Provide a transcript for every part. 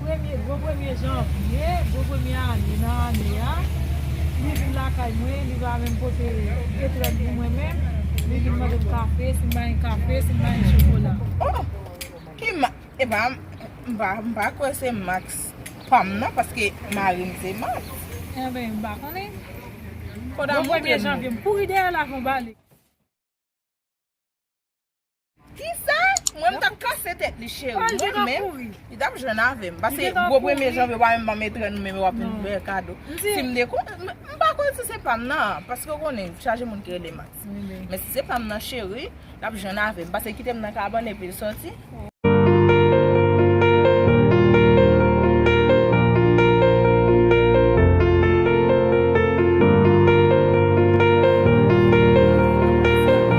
Premye, gwo premye janvye, gwo premye ane nan ane a, li vin lakay mwen, li va menm pote etrèg pou mwen menm, li vin mande m kafe, si m ba li kafe, si m ba li chokola. Oh! Ki ma, e pa, m pa, m pa kwè se Max pa m non, paske mari m se Max. Enben, m pa konnen. Koda montre m. Gwo premye janvye, m kouri dèyè l avè yon bale. Kisa? Mwen m tap kase tèt li cheri. Mwen menm, li tap jwenn avèm. Pase, gwo premye janvye, wap menm banm etren nou menm, wap menm fè kado. Si m dekouvri, m pa kwè si se pam nan, paske ou konnen, chaje moun ki rele Max. Men si se pam nan cheri, lap jwenn avèm. Pase kite m nan kabann epi l sòti.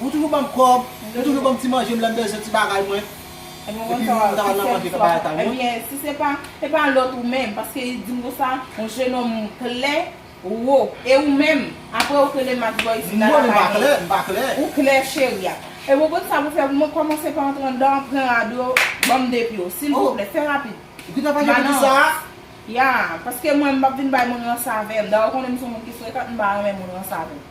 Ou toujou banm kòb, ou toujou banm ti manjem lèm bezwen ti bagay mwen. Epi ou menm ou ta pral nan manje kaba etal mwen. Ebyen si se pa, se pa lòt ou menm, paske li dim konsa, yon jenòm klè, wo. E ou menm, apre ou kele Max Boy isit la lakay mwen. Mwen menm m pa klè. Ou klè cheri a. Ebyen gad sa pou fè pou mwen, kòmanse pa antre anndan an, pran rad ou yo, banm depi yo. Silvouplè, fè rapid. Ou gentan fache pou kisa a? Ya, paske mwen m pap vin bay moun ransavèm. Dayè ou konnen m son moun ki frekant, m pa renmen moun ransave m.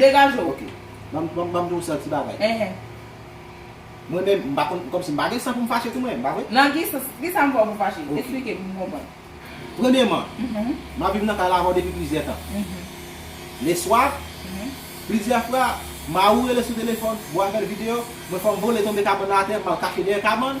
Degaje w. Ok. Banm banm banm diw sa ti bagay. Ehe. Mwen menm m pa konn kòmsi m pa gen san pou m fache tou mwen menm, pa vre? Nan ki sans? Kisa m fè w pou w fache? Ok. Esplike m pou m konprann. Premyeman, m ap viv nan kay la avè w depi plizyè tan. Leswa, plizyè fwa, Maou rele sou telefòn, Bo apèl videyo, mwen fè m vole tonbe kabann nan atè, m al kache dèyè kabann,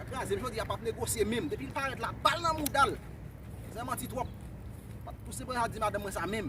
Nèg la zen jodi a pap negosye menm depi l parèt la bal nan mouda l zen manti twòp pap pouse bra di madanm mwen sa menm.